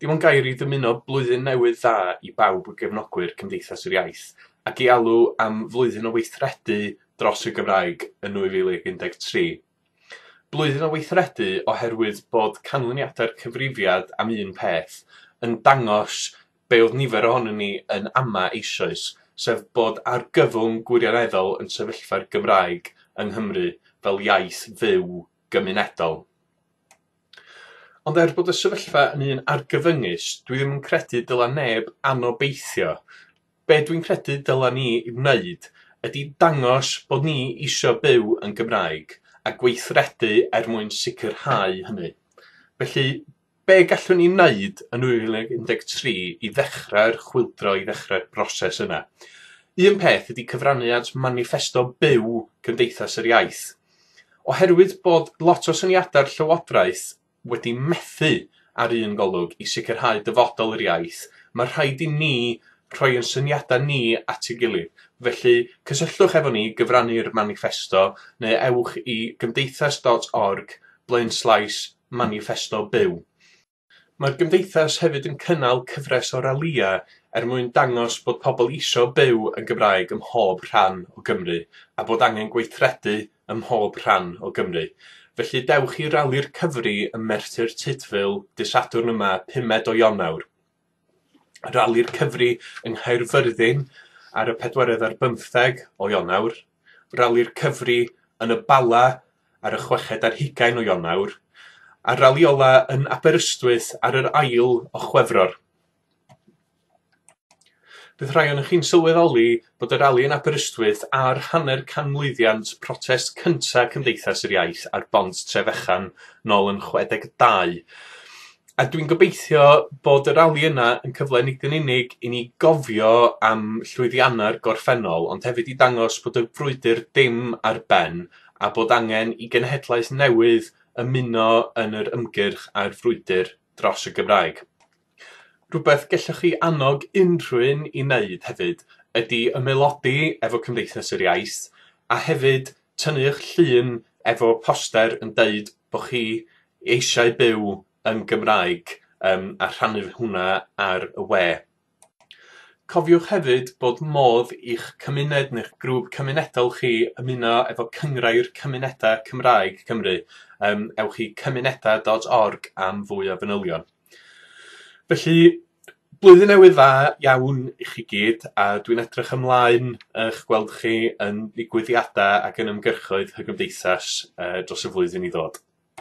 Dim ond gair i ddymuno Blwyddyn Newydd Dda i bawb o gefnogwyr Cymdeithas yr Iaith, ac i alw am flwyddyn o weithredu dros y Gymraeg yn 2013. Blwyddyn o weithredu oherwydd bod canlyniadau'r cyfrifiad am un peth yn dangos be oedd nifer ohonyn ni yn ama eisoes, sef bod argyfwng gwirioneddol yn sefyllfa'r Gymraeg yng Nghymru fel iaith fyw gymunedol. Ond er bod y sefyllfa yn un argyfyngus, dwi ddim yn credu dyla neb anobeithio. Be dwi'n credu dyla ni wneud ydi dangos bod ni isio byw yn Gymraeg a gweithredu er mwyn sicrhau hynny. Felly, be gallwn ni wneud yn 2013 i ddechrau'r chwyldro, i ddechrau'r broses yna? Un peth ydi cyfrannu at maniffesto byw Cymdeithas yr Iaith. Oherwydd bod lot o syniadau'r Llywodraeth wedi methu ar un golwg i sicrhau dyfodol yr iaith, mae rhaid i ni rhoi ein syniadau ni at ei gilydd. Felly, cysylltwch efo ni, gyfrannu'r maniffesto, neu ewch i gymdeithas.org blaenslaes maniffesto byw. Mae'r Gymdeithas hefyd yn cynnal cyfres o ralïau er mwyn dangos bod pobl eisiau byw yn Gymraeg ym mhob rhan o Gymru a bod angen gweithredu ym mhob rhan o Gymru. Felly dewch i Rali'r Cyfri ym Merthyr Tudful dydd Sadwrn yma, pumed o Ionawr. Rali'r Cyfri yng Nghaerfyrddin ar y pedwerydd ar bymtheg o Ionawr, Rali'r Cyfri yn y Bala ar y chweched ar hugain o Ionawr, a'r rali ola yn Aberystwyth ar yr ail o Chwefror. Bydd rhai ohonoch chi'n sylweddoli bod y rali yn Aberystwyth a'r hanner canmlwyddiant protest cynta' Cymdeithas yr Iaith ar bont Trefechan nôl yn 62. A dwi'n gobeithio bod y rali yna yn cyfle nid yn unig i ni gofio am llwyddiannau'r gorffennol ond hefyd i dangos bod y frwydr dim ar ben a bod angen i genhedlaeth newydd ymuno yn yr ymgyrch a'r frwydr dros y Gymraeg. Rhywbeth gellwch chi annog unrhyw un i wneud hefyd ydi ymaelodi efo Cymdeithas yr Iaith a hefyd tynnu'ch llun efo poster yn deud bo' chi eisiau byw yn Gymraeg yym a rhannu hwnna ar y we. Cofiwch hefyd bod modd i'ch cymuned neu'ch grŵp cymunedol chi ymuno efo Cynghrair Cymunedau Cymraeg Cymru yym ewch i cymunedau dot org am fwy o fanylion. Felly, blwyddyn newydd dda iawn i chi gyd, a dwi'n edrych ymlaen i'ch gweld chi yn digwyddiadau ac yn ymgyrchoedd y Gymdeithas dros y flwyddyn i ddod.